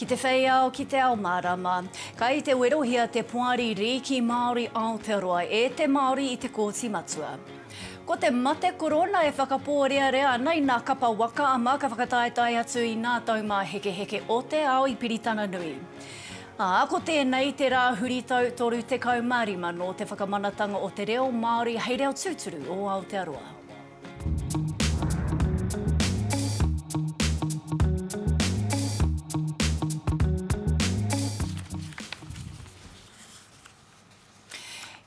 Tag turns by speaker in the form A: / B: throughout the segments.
A: Ki te whei ao, ki te ao mārama. Kai te werohia te poari rīki Māori Aotearoa e te Māori i te Kōti Matua. Ko te mate korona e whakapōrearea ana i nā kapa waka ama ka whakataetae atu i nā taumāhekeheke o te ao i Piritana Nui. Ā, ko tēnei te rā huritau 35 nō te whakamanatanga o te reo Māori hei reo tūturu o Aotearoa.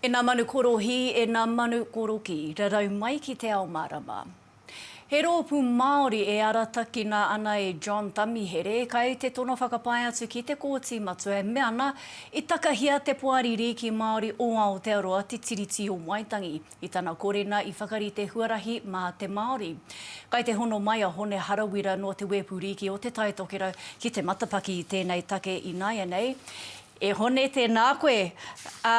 A: E nā manu korohī, e nā manu korokī, rarau mai ki te ao mārama. He roopu Maori e aratakina ana e John Tamihere, kai te tono whakapae atu ki te Kooti Matua e mea ana, i takahia te Poari Riiki Maori o Aotearoa te Tiriti o Waitangi, i tana korena i whakarite huarahi ma te Maori. Kai te hono mai a Hone Harawira no te Weepu Riiki o Te Taitokerau ki te matapaki i tenei take inaianei, E Hone, tēnā koe. Ā,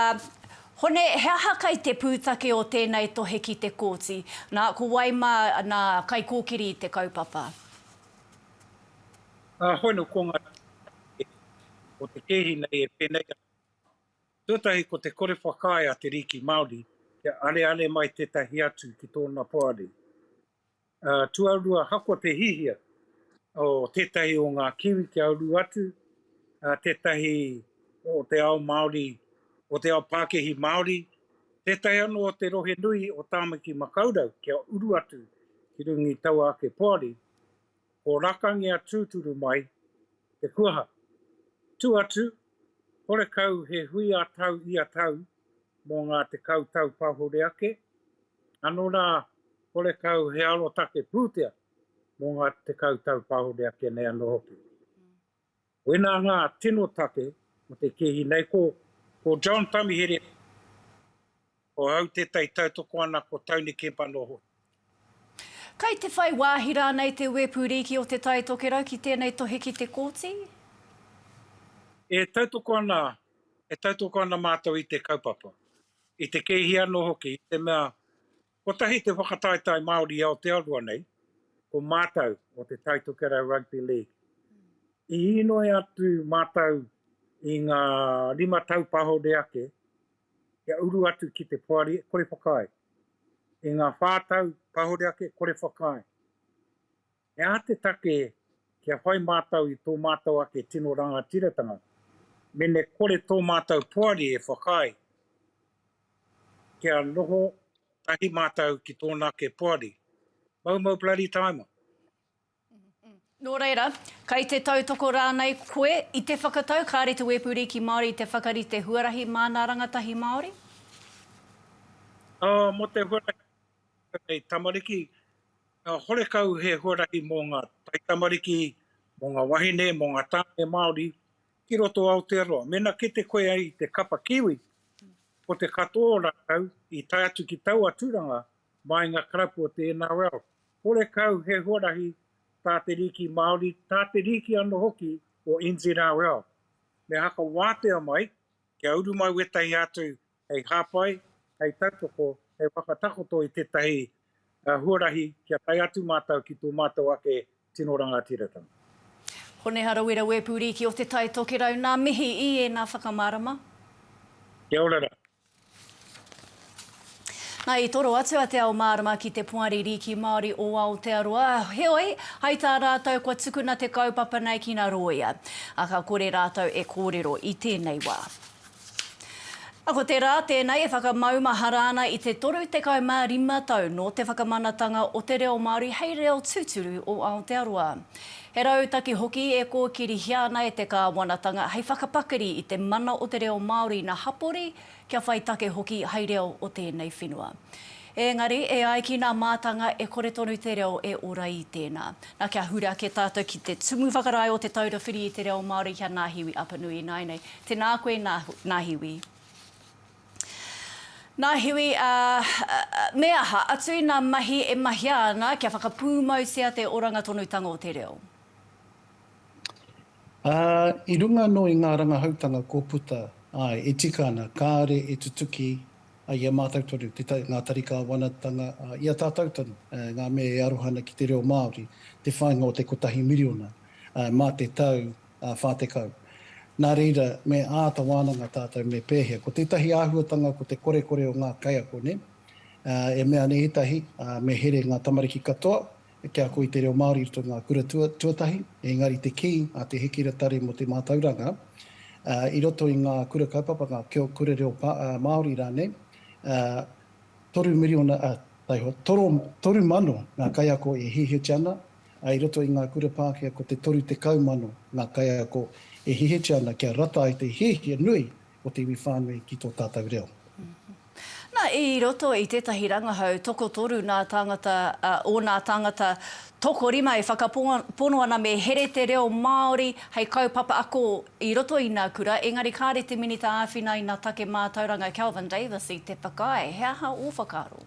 A: Hone, he aha kai te pūtake o tēnei tohe ki te kōti? Nā, ko wai mā nā kaikōkiri i te kaupapa?
B: Ā, Hone, ko ngā rīki o te kēhi nei e pēnei ana. Tuatahi ko te kore whakaae a te rīki Māori kia areare mai tētahi atu ki tōna poari. Ā, tuarua ahakoa te hihia o tētahi o ngā Kiwi kia uru atu, ā, tētahi o te ao Māori, o te ao Pākehī Māori, tētahi anō o te rohe nui o Tāmaki Makaurau kia uru atu ki runga i taua ake poari, ko Rakangia tūturu mai te kuaha. Tū atu, horekau he hui ā-tau ia tau mō ngā tekau tau pahore ake, anō rā, Horekau he arotake pūtea mō ngā tekau tau pāore ake nei anō hoki. Koinā ngā tino take mō te kēhi nei, ko. Ko John Tamihere, ko au tētahi tautoko ana ko Tony Kemp anō hoki.
A: Kei te whai wāhi rānei te Wepu Rīki o Te Tai Tokerau ki tēnei tohe ki te Kōti?
B: E tautoko ana, e tautoko ana mātou i te kaupapa, i te kēhi anō hoki, i te mea Kotahi te whakataetae Māori i Aotearoa nei, ko mātau o te Tai Tokerau Rugby League. I īnoi atu mātau i ngā rima tau pahore ake kia uru atu ki te poari e kore whakaae. I ngā whā tau pahore ake kore whakaae. He aha te take kia whai mātou i tō mātou ake tino rangatiratanga mēnē kore tō mātou poari e whakaae kia noho tahi mātou ki tōna ake poari? Moumou bloody taima!
A: Nō reira, kei te tautoko rānei koe i te whakatau kāre te Wepu Rīki Māori i te whakarite huarahi māna rangatahi Māori?
B: Mō te huarahi rangatahi tamariki, Ka horekau he huarahi mō ngā taitamariki, mō ngā wahine, mō ngā tāne Māori ki roto o Aotearoa. Mēnā kite koe ai i te kapa Kiwi, ko te katoa o rātou i tae atu ki taua tūranga mai ngā karapu o te NRL. Horekau he huarahi tā te rīki Māori, tā te rīki anō hoki o NZRL. Me haka wātea mai kia uru mai wētahi atu hei hāpai, hei tautoko, hei whakatakoto i tētahi huarahi kia tae atu mātou ki tō mātou ake tino rangatiratanga. Honeha
A: Rawira Wēpūrīki o Te Tai Tokerau, nā mihi i ēnā whakamārama. Kia
B: ora rā.
A: Nā, i toro atu a Te Ao Mārama ki te Poari Rīki Māori o Aotearoa, heoi, hai tā rātou kua tukuna te kaupapa nei ki nā rōia, ā, ka kore rātou e kōrero i tēnei wā. Ko te rā tēnei e whakamaumahara ana i te 35 tau nō te whakamanatanga o te reo Māori hei reo tūturu o Aotearoa. He rautaki hoki e kōkirihia ana e te Kāwanatanga hei whakapakari i te mana o te reo Māori ina hapori, kia whai take hoki hai reo o tēnei whenua. Engari, e ai ki nā mātanga e kore tonu te reo e ora i tēnā. Nā, kia huri ake tātou ki te Tumu Whakarae o Te Taura Whiri i te Reo Māori ki a Nāhiwi Apanui ināianei. Tēnā koe, Nāhiwi. Nāhiwi, ā, me aha atu inā mahi e mahia ana kia whakapūmautia te oranga tonutanga o te reo?
C: Ā, i runga anō i ngā rangahautanga kua puta, āe, e tika ana, kāore e tutuki ai i a mātou tonu ngā tari kāwanatanga i a tātou tonu, ngā mea e aroha ana ki te reo Māori, te whāinga o te kotahi miriona mā te tau whā tekau. Nā reira, me āta wānanga tātou me pēhea. Ko tētahi āhuatanga ko te korekore o ngā kaiako, nē? E mea ana ētahi, me here ngā tamariki katoa, Te ako i te reo Māori i roto i ngā kura tuatahi, engari te kī a Te Hikira Tari mō te Mātauranga, i roto i ngā kura kaupapa, ngā kura reo Māori rānei, toru miriona, taihoa, toru mano ngā kaiako e hihitia ana, ā, i roto i ngā kura Pākehā ko te toru tekau mano ngā kaiako e hihitia ana kia rata ai te hiahia nui o te iwi whānui ki tō tātou reo. Na,
A: i roto i tētahi rangahau tokotoru nā tāngata, ā, ōnā tāngata tokorima e whakapono ana me here te reo Māori hei kaupapa ako i roto i nā kura, engari kāre te Minita āwhina i nā take mātauranga Kelvin Davis i te whakaae. He aha ō whakaaro?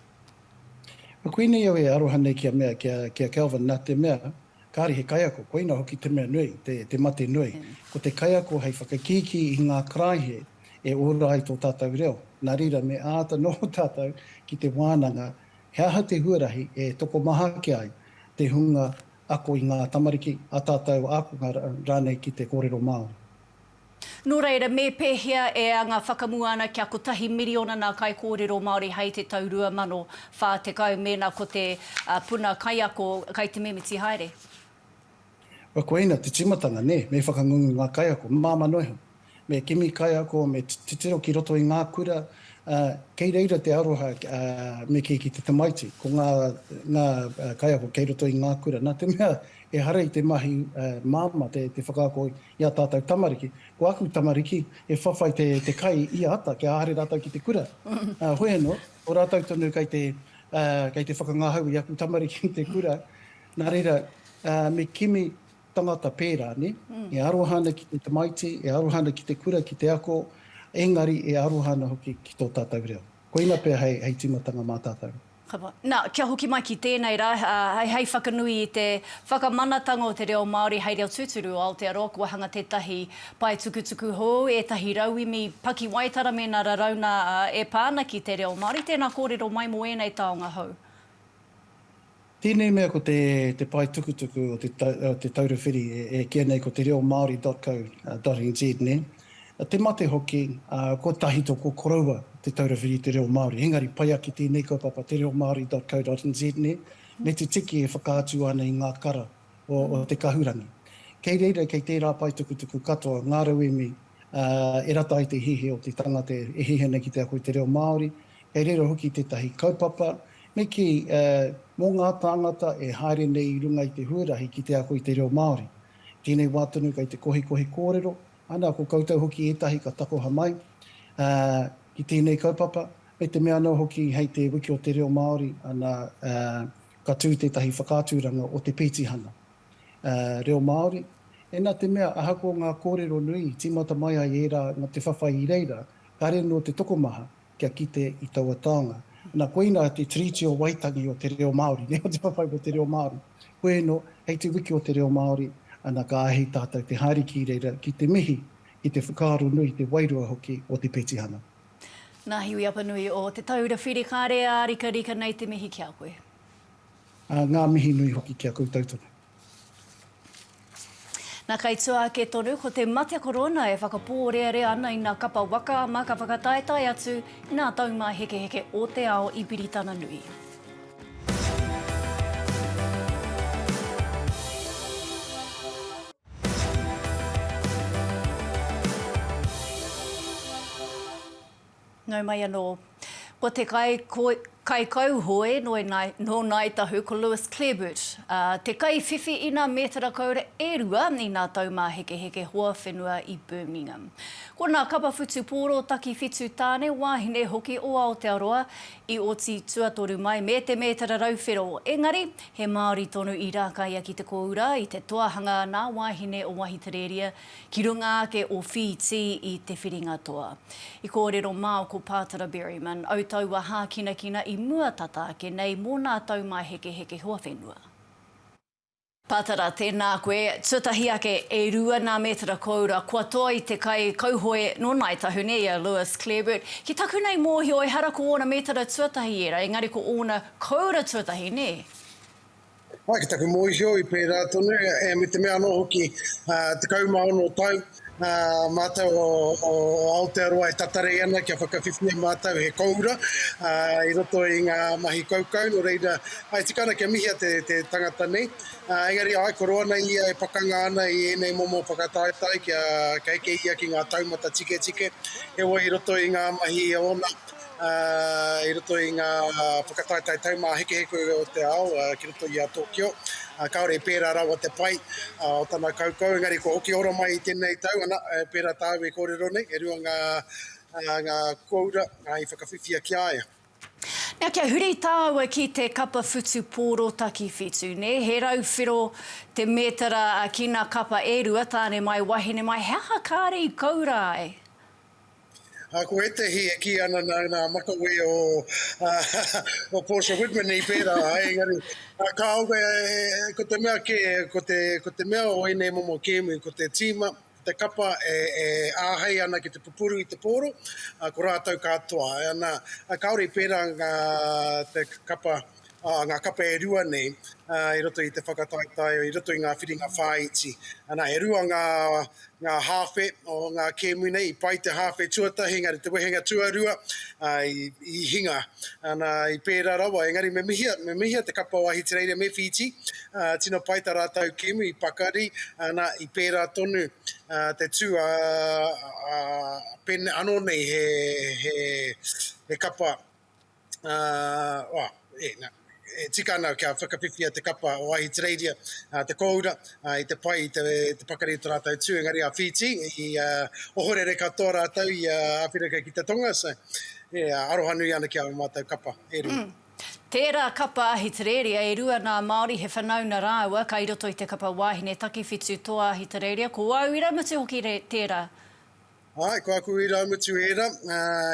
C: Koinei au e aroha nei kia mea, kia, kia Kelvin, nā te mea, Kāre he kaiako, koina hoki te mea nui, te mate nui. Ko te kaiako hei whakakīkī i ngā karaehe e ora ai tō tātou reo. Nā reira, me āta noho tātou ki te wānanga he aha te huarahi e tokomaha ake ai te hunga ako i ngā tamariki, ā tātou ākonga rānei ki te kōrero Māori. Nō
A: reira, me pēhea e anga whakamua ana kia kotahi miriona ngā kaikōrero Māori hei te tau 2040 mēnā ko te puna kaiako kai te mimiti haere?
C: Kua koina te tīmatanga, nē, me whakangungu ngā kaiako, māmā noa iho. Me kimi kaiako, me titiro ki roto i ngā kura, ā, kei reira te aroha, ā, me kī ki te tamaiti, ko ngā, ngā kaiako kei roto i ngā kura, nā te mea, ehara i te mahi māmā te whakaako I a tātou tamariki, ko aku tamariki, e whawhai te te kai i a ata kia haere rātou ki te kura. Hoi anō, ko rātou tonu kei te kei te whakangahau i aku tamariki i te kura, nā reira, me kimi tangata pērā, nē? E aroha ana ki te tamaiti, e aroha ana ki te kura, ki te ako, engari e aroha ana hoki ki tō tātou reo. Koina pea hei hei tīmatanga mā tātou. Kapa. Nā, kia
A: hoki mai ki tēnei rā, hei whakanui i te whakamanatanga o te reo Māori hei reo tūturu o Aotearoa, kua hanga tētahi paetukutuku hou, ētahi rauemi pakiwaitara mēnā raraunga e pā ana ki te reo Māori. Tēnā kōrero mai mō ēnei taonga hou.
C: Tēnei mea ko te paetukutuku o te Taura Whiri e kīia nei ko te reo Māori dot co dot nz, nē? te mate hoki, ā, kua tahito ko koroua te taura whiri i te reo Māori. Engari pai ake tēnei kaupapa, tereomaori.co.nz nei, me te tiki e whakaatu ana i ngā kara o te kahurangi. Kei reira, kei tērā paetukutuku katoa ngā rauemi, ā, e rata ai te hihi o te tangata e hihi ana ki te ako i te reo Māori. Kei reira hoki tētahi kaupapa, me kī, ā, mō ngā tāngata e haere nei i runga i te huarahi ki te ako i te reo Māori. I tēnei wā tonu kei te kohikohi kōrero, ana ko koutou hoki ētahi ka takoha mai ki tēnei kaupapa, me te mea anō hoki hei te Wiki o te Reo Māori, ana ka tū tētahi whakaaturanga o te pētihana reo Māori, ena te mea ahakoa ngā kōrero nui tīmata mai ai ērā mō te whawhai i reira, kāre anō te tokomaha kia kite i taua taonga. Ana, koina te Tiriti o Waitangi o te reo Māori, nē, o te whawhai mō te reo Māori. Koe ēno, hei te wiki o te reo Māori, ana, ka āhei tātou te haere ki reira ki te mihi, ki te whakaaro nui, te wairua hoki o te petihana. Nā Hiwi
A: Apanui o Te Taura Whiri, kāre ārikarika nei te mihi ki a koe. Ā,
C: ngā mihi nui hoki ki a koutou tonu.
A: Na kei tua ake tonu ko te mate korona e whakapōrearea ana i na kapa waka ama ka whakataetae atu i nā taumāhekeheke ō te ao i Piritana Nui. Nau mai anō. Ko te kaikauhoe nō Ngāi Tahu ko Lewis Clareburt, te kaiwhiwhi ina mētara koura e rua i nā taumāhekeheke hoa whenua i Birmingham. Ko nā kapa whutupōro takiwhitu tāne wāhine hoki o Aotearoa i oti tuatoru mai me te mētara rau whero, engari, he Māori tonu i rākaia ki te kōura i te toa hanga nā wāhine o Wahiterēria, Ki runga ake o Whītī i Te Whiringatoa. I kōrero māu ko Pātara Berryman, au taua hākinakina i mua tata ake nei mō nā taumaehekeheke hoawhenua. Pātara, Tēnā koe, tuatahi ake e rua nā mētara kōura kua toa i te kai kauhoe nō Ngāi Tahune i a Lewis Clareburt. Ki taku nei mōhio ehara ko ōna mētara tuatahi ērā engari ko ōna kōura tuatahi, nē? Mai
D: ki taku mōhio i pērā tonu, e me te mea anō hoki, ā, tekau mā ono tau, ā, mātou o, o, o Aotearoa e tatarei ana kia whakawhiwhia mātou he kōura, ā, i roto i ngā mahi kaukau, nō reira, e tika ana kia mihia te, te tangata nei. Ā, engari āe koro ana ia e pakanga ana i ēnei momo whakataetae kia, kia eke ia ki ngā taumata tiketike, heoi i roto i ngā mahi ōna, i roto i ngā whakataetae taumāhekeheke o te ao ki roto i a Tokyo. Kāore i pērā rawa te pai o tana kaukau, engari kua hoki ora mai i tēnei tau, ana, pērā tāu e kōrero nei, e rua ngā ngā kōura i whakawhiwhia ki a ia. Nā, kia
A: huri tāua ki te kapa whutu pōro takiwhitu, nē, he rau whero te mētara ki ngā kapa e rua, tāne mai, wahine mai, he aha kāre i kōura ai?
D: Ko ētehi e kī ana nā ngā makawe o Portia Whitmani pērā, engari kāore, ko te mea kē, ko te mea o ēnei momo kēmu, ko te tīma, ko te kapa e āhei ana ki te pupuru i te pōro, ko rātou katoa. Ana, kāore i pērā ngā kapa. ngā kapa e rua nei i roto i te whakataetae, i roto i ngā whiringa whāiti. Anā, e rua ngā, ngā hāwhe o ngā kēmu nei, i pai te hāwhe tuatahi, engari te wehenga tuarua i, i hinga. Anā, i pērā rawa, engari me mihia, me mihia te kapa o Ahitereiria me Whītī, tino pai tā rātou kēmu i pakari, anā, i pērā tonu te tū, ā, ā, pēnei anō nei he, he, he kapa, ā, ā, e, nā, e tika ana kia whakawhiwhia te kapa o Ahitereiria, ā, te kōura, ā, i te pai, i te, te pakari o tō rātou tū, engari a Whītī, i ā, ohorere katoa rātou i a Āwherika ki te tonga, so, e, aroha nui ana ki ā mātou kapa e rua. Mm. Tērā
A: kapa Ahitereiria, e rua nā Māori he whanauna rāua, kai roto i te kapa wāhine takewhitu tō Ahitereiria, ko au iraumatū hoki re, tērā. Āe, ko
D: aku irāmutu ērā,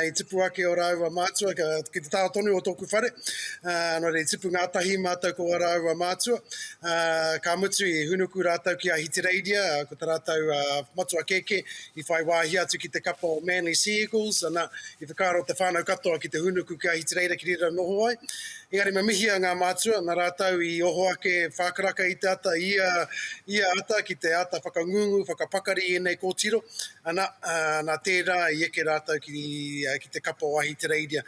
D: i tipu ake ō rāua mātua ki te taha tonu o tōku whare, nō reira i tipu ngātahi mātou ko ō rāua mātua, ka mutu i hūnuku rātou ki Ahitereiria, ko tā rātou matua kēkē i whai wāhi atu ki te kapa o Manly Sea Eagles, ana, i whakaaro te whānau katoa ki te hūnuku ki Ahitereiria ki reira noho ai. Engari me mihia ngā mātua, nā rātou i oho ake whākaraka i te ata, i ia ata ki te āta whakangungu, whakapakari i ēnei kōtiro, Ana, nā tērā i eke rātou ki te kapa o Ahitereiria.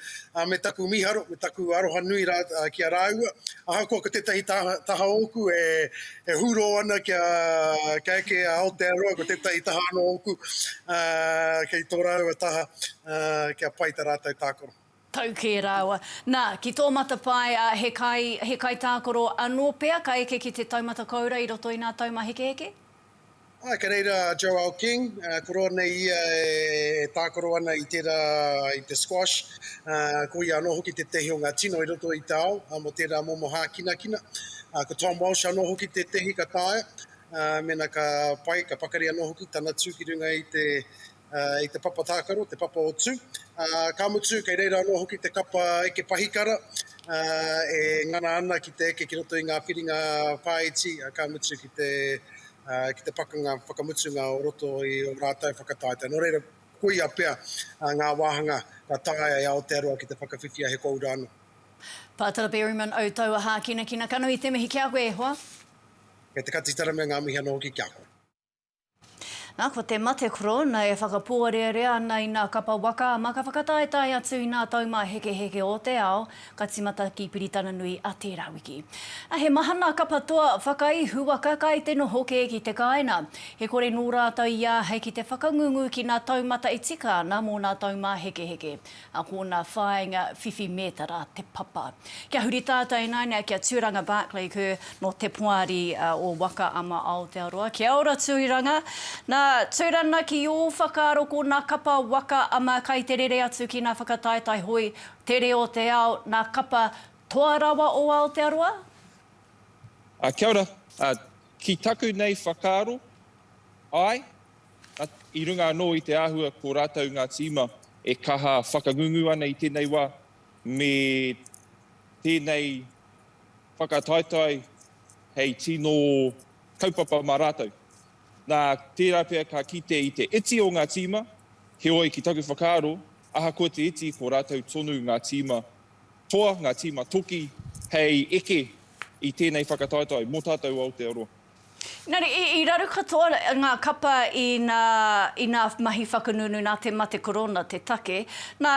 D: Me taku mīharo, me taku aroha nui ki a rāua. Ahakoa ko tētahi taha ōku e hūrō ana kia eke a Aotearoa, ko tētahi taha anō ōku kei tō rāua taha kia pai tā rātou tākaro. tau kē rāua.
A: Nā, ki tō matapae, ā, he kai, he kai tākaro anō pea ka eke ki te taumata koura i roto i nā taumahekeheke? Āe, kei
D: reira a Joelle King, ko roa nei ia e tākaro ana i tērā, i te squash, ā, ko ia anō hoki tētehi o ngā tino i roto i te ao, ā, mō tērā momo hākinakina. Ā, ko Tom Walsh anō hoki tētehi ka taea, ā, mēnā ka pai, ka pakari anō hoki tana tū ki runga i te, i te papa tākaro, te papa o Tū. Ka mutu, kei reira anō hoki te kapa eke pahikara e ngana ana ki te eke ki roto i ngā whiringa whāiti, ka mutu ki te pakanga whakamutunga o roto i ō rātou whakataetae. Nō reira, koia pea ngā wāhanga ka taea e Aotearoa ki te whakawhiwhia he kōura anō. Pātara
A: Berryman, Au taua hākinakina, ka nui te mihi ki a koe e hoa. Kei te
D: Katitara me ngā mihi anō hoki ki a koe.
A: Na, ko te mate korona e whakapōrearea ana i nā kapa waka, ma ka whakataetae atu i nā taumāhekeheke o te ao, ka timata ki Piritananui a tērā wiki. Na, he maha nā kapa toa whakai huaka kai te noho kē ki te kāina. He kore nō rātou i āhei ki te whakangungu ki nā taumata e tika ana mō nā taumāhekeheke. a kona whainga whiwhi metara te papa. Kia huri tata inaina kia Turanga Barclay Kerr no te poari o Waka ama Aotearoa. Kia ora Turanga. Na, Turana ki o whakaaro kona kapa Waka ama kai te rere atu ki na whakataetae hoi, te reo o te ao, na kapa toa rawa o Aotearoa?
E: Kia ora. Ki taku nei whakaaro, ae. I runga anō i te āhua ko rātou ngā tīma e kaha whakangungu ana i tēnei wā, me tēnei whakataetae hei tino kaupapa mā rātou. Nā, tērā pea ka kite i te iti o ngā tīma, heoi ki taku whakaaro, ahakoa te iti ko rātou tonu ngā tīma toa, ngā tīma toki hei eke i tēnei whakataetae mō tātou o Aotearoa. Engari, i
A: raru katoa ngā kapa i nā mahi whakangungu nā te mate korona te take. Nā,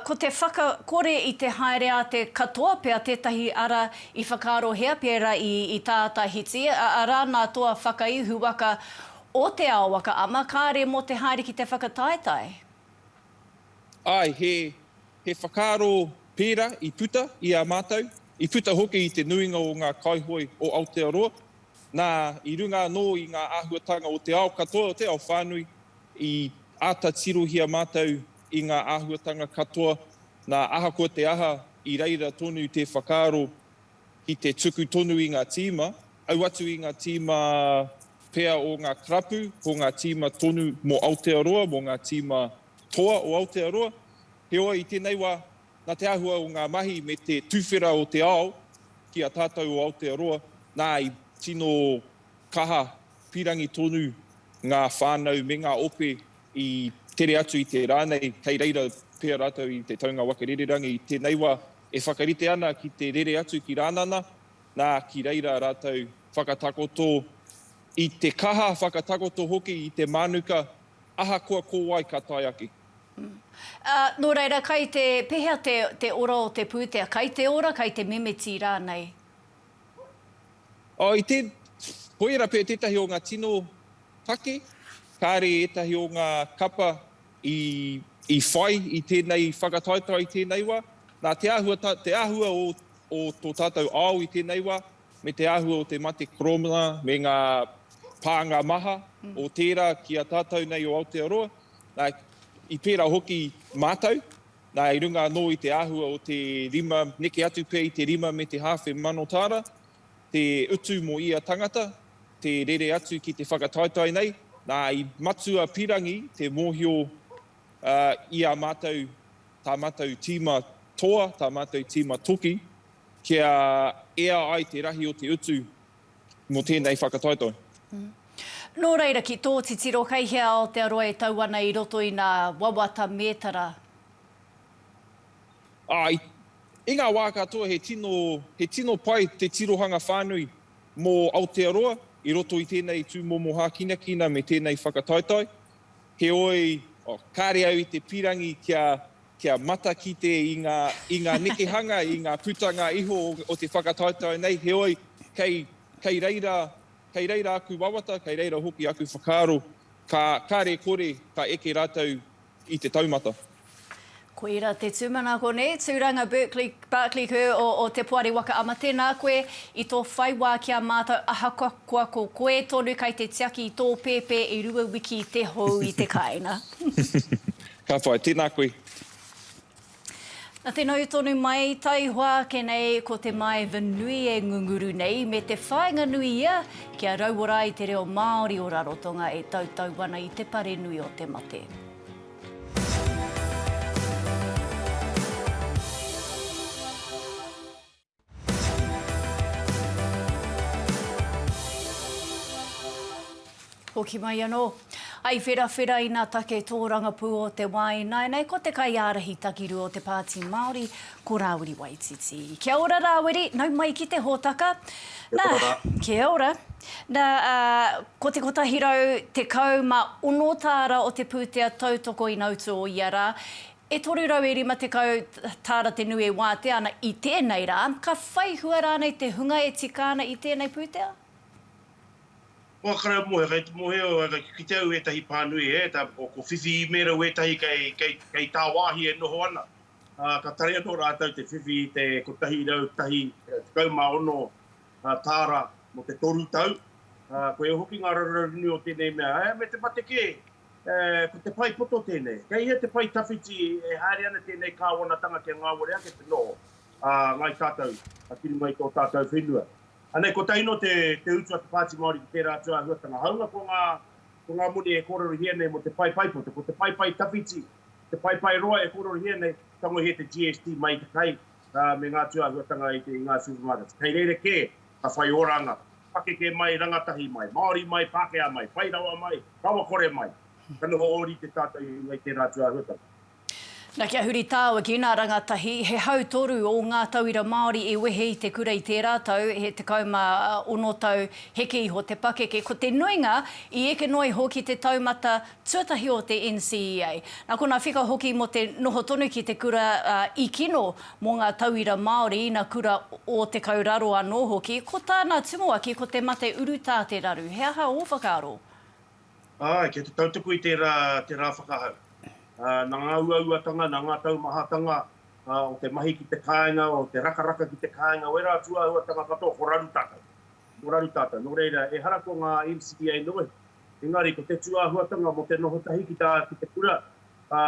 A: ko te whakakore i te haere a te katoa pea tētahi ara i whakaarohia pērā i tā Tahiti, arā nā toa whakaihu waka o Te Ao Waka Ama, kāre mō te haere ki te whakataetae.
E: Āe, he He whakaaro pērā i puta i a mātou, i puta hoki i te nuinga o ngā kaihoe o Aotearoa, nā, i runga anō i ngā āhuatanga o te ao katoa, o te ao whānui, i āta tirohia mātou i ngā āhuatanga katoa, nā, ahakoa te aha, i reira tonu te whakaaro ki te tuku tonu i ngā tīma, au atu i ngā tīma pea o ngā karapu, ko ngā tīma tonu mō Aotearoa, mō ngā tīma toa o Aotearoa. Heoi, i tēnei wā, nā te āhua o ngā mahi me te tuwhera o te ao ki a tātou o Aotearoa, nā, i tino kaha pīrangi tonu ngā whānau me ngā ope i tere atu i te rā nei, kei reira pea rātou i te taunga waka rererangi. I tēnei wā, e whakarite ana ki te rere atu ki Rānana, nā, ki reira rātou whakatakoto i te kaha, whakatakoto hoki i te mānuka, ahakoa ko wai ka tae ake. Ā,
A: nō reira, kai te, pēhea te, te ora o te pūtea? Kai te ora, kai te mimiti rānei?
E: Oh, i te, koira pea tētahi o ngā tino take, kāre ētahi o ngā kapa i, i whai i tēnei whakataetae i tēnei wā. Nā, te āhua, tā, te āhua o, o tō tātou ao i tēnei wā, me te āhua o te mate koromana me ngā pānga maha o tērā ki a tātou nei o Aotearoa, Nā, i pērā hoki mātou, nā, i runga anō i te āhua o te rima, neke atu pea i te rima me te hāwhe mano tāra, te utu mō ia tangata, te rere atu ki te whakataetae nei, nā, i matua pirangi te mōhio ā, i a mātou, tā mātou tīma toa, tā mātou tīma toki, kia ea ai te rahi o te utu mō tēnei whakataetae.
A: Nō reira, ki tō titiro, kei hea Aotearoa e tau ana i roto i nā wawata mētara?
E: Āe. I ngā wā katoa he tino, he tino pai te tirohanga whānui mō Aotearoa i roto i tēnei tūmomo hākinakina me tēnei whakataetae. Heoi, oh, kāre au i te pīrangi kia, kia matakite i ngā, i ngā nekehanga, i ngā putanga iho o, o te whakataetae nei, heoi, kei, kei reira, kei reira aku wawata, kei reira hoki aku whakaaro, ka, kare kore ka eke rātou i te taumata. Ko
A: ira te tumanako nei, Turanga Berkeley, Barclay Kerr o, o Te Poari Waka Ama tēnā koe i tō whai wā ki a mātou ahakoa koa ko koe tonu kei te tiaki i tō pēpē i rua wiki te hou i te kāinga.
E: Ka whai, tēnā koe.
A: Na te nau tonu mai, taihoa ake nei ko te maeva nui e ngunguru nei me te whainga nui ia kia rauora ai te reo Maori o Rarotonga e tautau ana i te pare nui o te mate. Hoki mai anō. I wherawhera ina take tōrangapū o te wā ināianei ko te kaiārahi takiru o te Pāti Māori, ko Rāwiri Waititi. Kia ora Rāwiri, nau mai ki te hōtaka. Kia ora rā. Kia ora. Nā, ko te 116 tāra o te pūtea tautoko ina utu o ia rā, E 350 tāra te nui e wātea ana i tēnei rā, ka whai hua rānei te hunga e tika ana i tēnei pūtea? Wākarau
F: Mohe, Kei te mōhio au, kei te kite au ētahi pānui hē, ko whiwhi īmēra wētahi kei tāwāhi e noho ana, ā, ka tare anō rātou te whiwhi i te 101, 16 tāra mō te toru tau. Koia hoki ngā raruraru nui o tēnei mea, ā, me te mate kē, Ko te pae poto tēnei. Kei hea te pae tawhiti e haere ana tēnei kāwanatanga kia ngāwari ake te noho a Ngāi Tātou ki runga i tō tātou whenua. Anei, kotaino te utu a te Pāti Māori ki tērā atu āhuatanga. Hāunga ko ngā, ko ngā moni e kōrerohia nei mō te pae paepoto, ko te pae pae tawhiti, te pae pae roa e kōrerohia nei, tangohia te GST mai i te kai me ngā tūāhuatanga i ngā supermarkets. Kei reira kē Ka whai oranga, pakeke mai, rangatahi mai, Māori mai, Pākehā mai, whai rawa mai, rawakore mai. Ka noho ōrite tātou i runga i tērā atu āhuatanga. Na
A: kia huri tāwaki, nā rangatahi, he hau toru ō ngā tauira Māori i wehe i te kura i tērā tau, he 16 tau, heke iho te pakeke. Ko te nuinga i eke noa iho ki te taumata tuatahi o te NCEA. Nā konā whika hoki mō te noho tonu ki te kura i kino mō ngā tauira Māori, ina kura o Te Kauraro anō hoki. Ko tāna tumuaki ko te mate urutā te raru. He aha ō whakaaro? Āe,
F: kei te tautuku i tērā te rā whakahau. Nā ngā uauatanga, nā ngā taumahatanga o te mahi ki te kāinga, o te rakaraka ki te kāinga, o ērā atu āhuatanga katoa, ko raru tātou. Ko raru tātou. Nō reira, ehara ko ngā NCEA noa iho. Engari, ko te tūāhuatanga mō te noho tahi ki te kura, ā,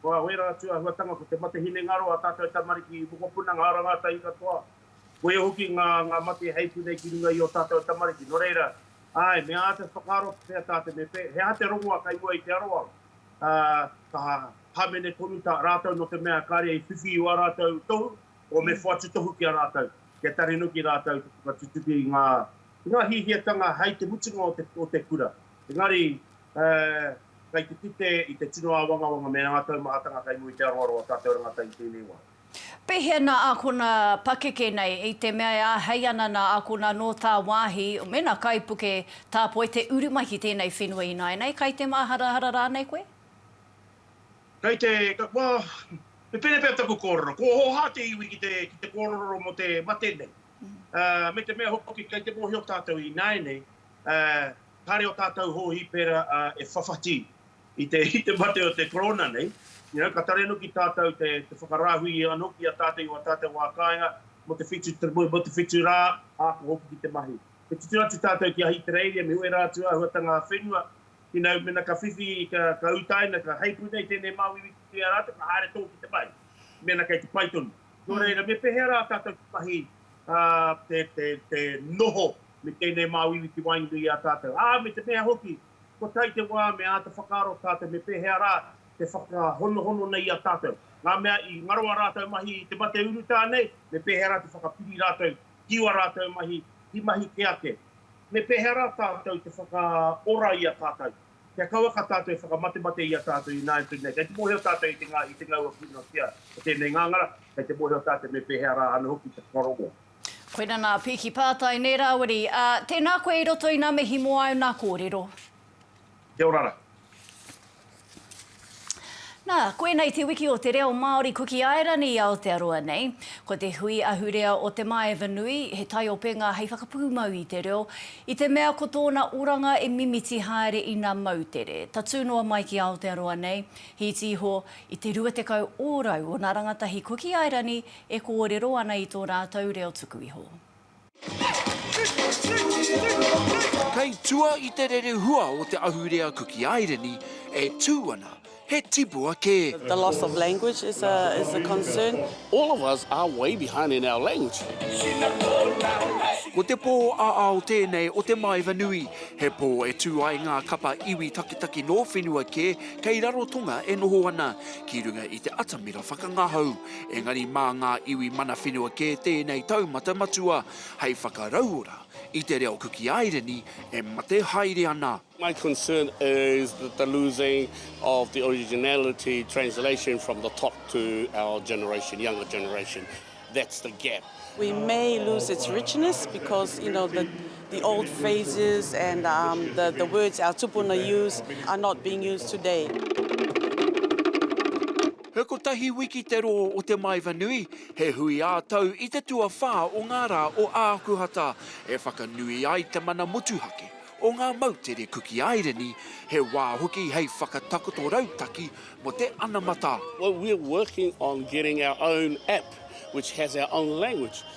F: ko ērā tūāhuatanga ko te mate hinengaro ā tātou tamariki i mokopuna, ngā ara ngātahi katoa, koia hoki ngā mate hei pūnei ki runga i ō tātou tamariki. Nō reira, āe, me āta whakaaro pea tā te Mepe, he aha te rongoā kei mua i te aroaro? Ā, ka hāmene tonu tā rātou nō te mea kāre i whiwhi i wā rātou tohu, Kua me whatu tohu ki a rātou, kia tarenuki rātou te whakatutuki i ngā, i ngā hiahiatanga hei te mutunga o te, o te kura. Engari, eh, kei te kite i te tino āwangawanga me ngā taumahatanga kei mua i te aroaro a tātou rangatahi tēnei wā. Pēhea nā
A: ākona pakeke nei, i te mea e āhei ana nā ākona nō tāwāhi mēnā kaipuke tāpoi te uru mai ki tēnei whenua ināianei, kai te māharahara rānei koe?
F: Kei te, well, he pēnei pea taku kōrero, kua hoha te iwi ki te, ki te kōrero mō te mate nei. Me te mea hoki, kei te mōhio tātou ināianei, kāre o tātou hōhipera e whawhati i te, i te mate o te Korona nei, you know, ka taria noki tātou te, te whakarāhui anō ki a tātou i ō tātou wā kāinga, mō te whitu, mō te whitu rā, ākō hoki ki te mahi. Me tutū atu tātou ki Ahitereiria, me wera atu āhuatanga ā-whenua, Inau mena ka whiwhi ka utaina ka hei puna i tenei mawiwi ki te a ratou ka haere to ki te pai mena kei te pai tonu. No reira me pehea ra tatou ki mahi te noho me tenei mawiwi ki waenga i a tatou? A me te mea hoki kua tae te wa me ata whakaaro tatou me pehea ra te whakahonohono nei i a tatou. Nga mea i ngaro a ratou mahi i te mate urutā nei me pehea ra te whakapiri ratou ki a ratou mahi ki mahi ke ake. Me pēhea rā tātou te whakaora i a tātou? Kia kaua ka tātou e whakamatemate i a tātou ināianei nei, kei te mōhio tātou i te ngā, i te ngau a Pūnāwhia o tēnei ngāngara, kei te mōhio tātou me pēhea rā āna hoki te whakarongo. Koina nā
A: Piki Pātai, nē Rāwiri, ā, tēnā koe i roto i nā mihi mō āu nā kōrero. Kia
F: ora ra.
A: Nā, koinei te wiki o te reo Māori Kuki Airani i Aotearoa nei. Ko te hui ahurea o Te Maeva Nui, he taiopenga hei whakapūmau i te reo, i te mea ko tōna oranga e mimiti haere ina moutere, tatū noa mai ki Aotearoa nei, hīti iho i te 20 ōrau ōna rangatahi Kuki Airani e kōrero ana i tō rātou reo tuku iho.
G: Kei tua i te rerehua o te ahurea Kuki Airini e tū ana he tipua kē. The loss of language
H: is a is a concern. All of us
I: are way behind in our language.
G: Ko te pō ā-ao tēnei o te Maeva Nui, he pō e tū ai ngā kapa iwi takitaki nō whenua kē kei Rarotonga e noho ana ki runga i te atamira whakangahau. engari mā ngā iwi mana whenua kē tēnei taumata matua hei whakarauora i te reo Kuki Aireni e mate haere ana. My concern
I: is that the losing of the originality translation from the top to our generation, younger generation, that's the gap. We may
H: lose its richness because you know the the old phrases and um, the, the words our tupuna use are not being used today.
G: He kotahi wiki te rō o Te Maeva Nui, he hui ā-tau i te tuawhā o ngā rā o Ākuhata, e whakanui ai te mana motuhake o ngā moutere Kuki Aireni, he wā hoki hei whakatakoto rautaki mō te anamata. Well we're working
I: on getting our own app which has our own language.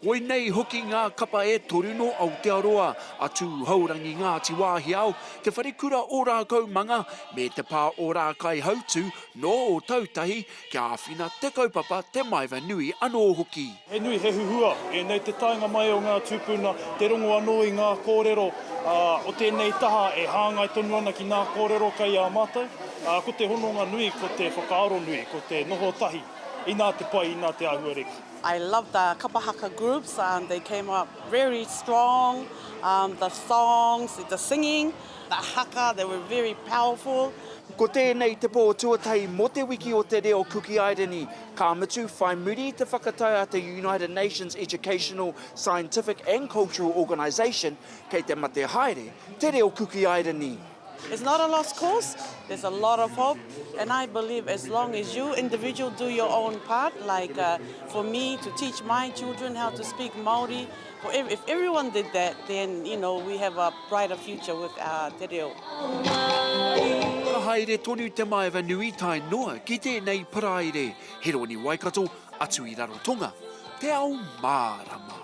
G: Koinei hoki ngā kapa e toru nō Aotearoa, a Tū Hourangi Ngāti Wāhiao, Te Wharekura o Rākaumanga, me Te Pā o Rākaihautū nō Ōtautahi, kia āwhina te kaupapa, te maeva nui anō hoki. He nui, he huhua
J: ēnei te taenga mai o ngā tūpuna, te rongo anō i ngā kōrero o tēnei taha e hāngai tonu ana ki ngā kōrero kei a mātou. Ko te hononga nui, ko te whakaaro nui, ko te noho tahi, inā te pai, inā te āhua reka. I love the
H: kapa haka groups um they came up very strong um the songs the singing the haka they were very powerful. Ko tēnei
G: te pō tuatahi mō te wiki o te reo Kukiairani, ka mutu, whai muri i te whakatau a te United Nations Educational, Scientific and Cultural Organisation, kei te mate haere te reo Kukiairani. It's not a lost
H: cause, there's a lot of hope and I believe as long as you individual do your own part like for me to teach my children how to speak Māori, if everyone did that then you know we have a brighter future with our te reo.
G: Ka haere tonu te maeva nui tae noa ki tēnei paraire, Heroni Waikato, atu i Rarotonga, te ao mārama.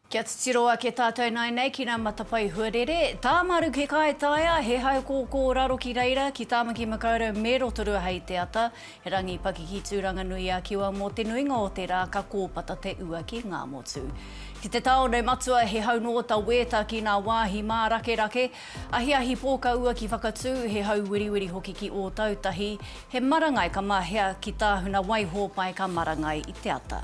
A: Kia titiro ake tātou nāinei ki nā Matapae Huarere, tā Maruki Kaitaia, he haukōkō raro ki reira, ki Tāmaki Makaurau me Rotorua hei te ata, he rangi pakiki Tūranganui-a-Kiwa mō te nuinga o te rā ka kōpata te ua ki Ngāmotu. Ki te tāone matua he hau nō ta Wēta ki nā wāhi mārakerake, ahiahi pōkaua ki Whakatū, he hau wiriwiri hoki ki Ōtautahi, he marangai ka mahea ki Tāhuna Waihōpai ka marangai i te ata.